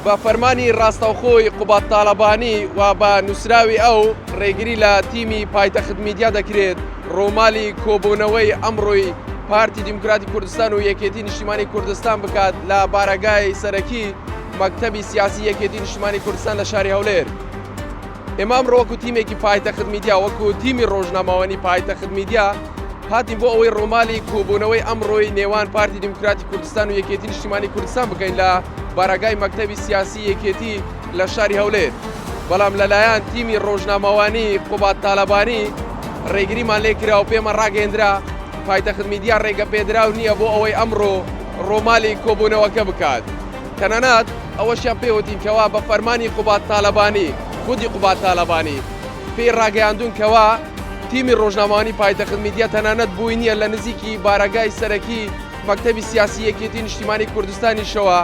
بە فەرمانی ڕاستەوخۆی قوباد تاڵەبانی و بە نووسراوی ئەو، ڕێگری لە تیمی پایتەخت میدیا دەکرێت ڕوومالی کۆبوونەوەی ئەمڕۆی پارتی دیموکراتی کوردستان و یەکێتی نیشتیمانی کوردستان بکات لە بارەگای سەرەکی مەکتەبی سیاسی یەکێتی نیشتیمانی کوردستان لە شاری هەولێر. ئێمە ئەمڕۆ وەکو تیمێکی پایتەخت میدیا وەکو تیمی ڕۆژنامەوانی پایتەخت میدیا هاتین بۆ ئەوەی ڕوومالی کۆبوونەوەی ئەمڕۆی نێوان پارتی دیموکراتی کوردستان و یەکێتی نیشتیمانی کوردستان بکەین لە بارەگای مەکتەبی سیاسی یەکێتی لە شاری هەولێر بەڵام لەلایەن تیمی ڕۆژنامەوانی قوبات تالەبانی ڕێگریمان لێ کرا و پێمە ڕاگەندرا پایتەخت میدیا ڕێگە پێدراو نییە بۆ ئەوەی ئەمڕۆ ڕۆمالی کۆبوونەوەکە بکات. تەنانەت ئەوەشیان پێ وتین کەوا بە فەرمانی قوباد تالەبانی، خودی قوباد تالەبانی، پێی ڕاگەیاندوون کەوا تیمی ڕۆژنامەوانی پایتەخت میدیا تەنانەت بووی نییە لە نزیکی بارەگای سەرەکی مەکتەبی سیاسی یەکێتی نیشتیمانی کوردستانیشەوە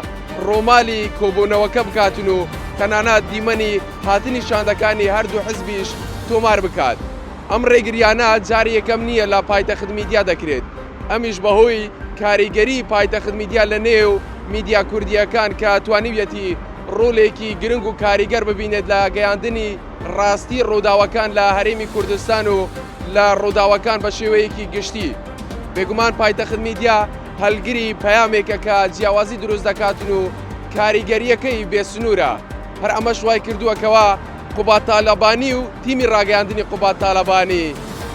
ڕوومالی کۆبوونەوەکە بکاتن و تەنانەت دیمەنی هاتنی شاندەکانی هەردوو حزبیش تۆمار بکات. ئەم ڕێگریانە جاری یەکەم نییە لە پایتەخت میدیا دەکرێت. ئەمیش بەهۆی کاریگەری پایتەخت میدیا لە نێو میدیا کوردییەکان کە توانیویەتی ڕۆلێکی گرنگ و کاریگەر ببینێت لە گەیاندنی ڕاستی ڕووداوەکان لە هەرێمی کوردستان و لە ڕووداوەکان بە شێوەیەکی گشتی بێگومان پایتەخت میدیا هەلگری پەیامێکە کە جیاوازی دروست دەکاتن و کاریگەریەکەی بێسنوورە هەر ئەمەش وای کردووە کەوا قوباد تالەبانی و تیمی ڕاگەیاندنی قوباد تالەبانی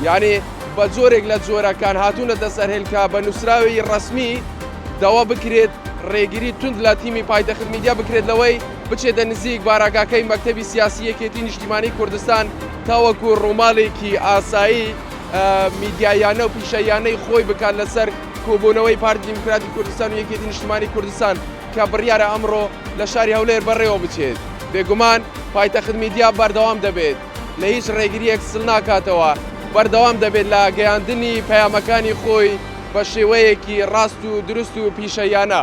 یانی بە جۆرێک لە جۆرەکان هاتوونەتە سەر هێلکە کە بە نووسراوی ڕەسمی داوا بکرێت ڕێگری توند لە تیمی پایتەخت میدیا بکرێت لەوەی بچێتە نزیک بارەگاکەی مەکتەبی سیاسی یەکێتی نیشتیمانی کوردستان تاوەکو ڕووماڵێکی ئاسایی میدیاییانە و پیشەییانەی خۆی بکات لەسەر کۆبوونەوەی پارتی دیموکراتی کوردستان و یەکێتی نیشتیمانی کوردستان کە بڕیارە ئەمڕۆ لە شاری هەولێر بەڕێوە بچێت بێگومان پایتەخت میدیا بەردەوام دەبێت لە هیچ ڕێگرییەک سل ناکاتەوە، بەردەوام دەبێت لە گەیاندنی پەیامەکانی خۆی بە شێوەیەکی ڕاست و دروست و پیشەییانە.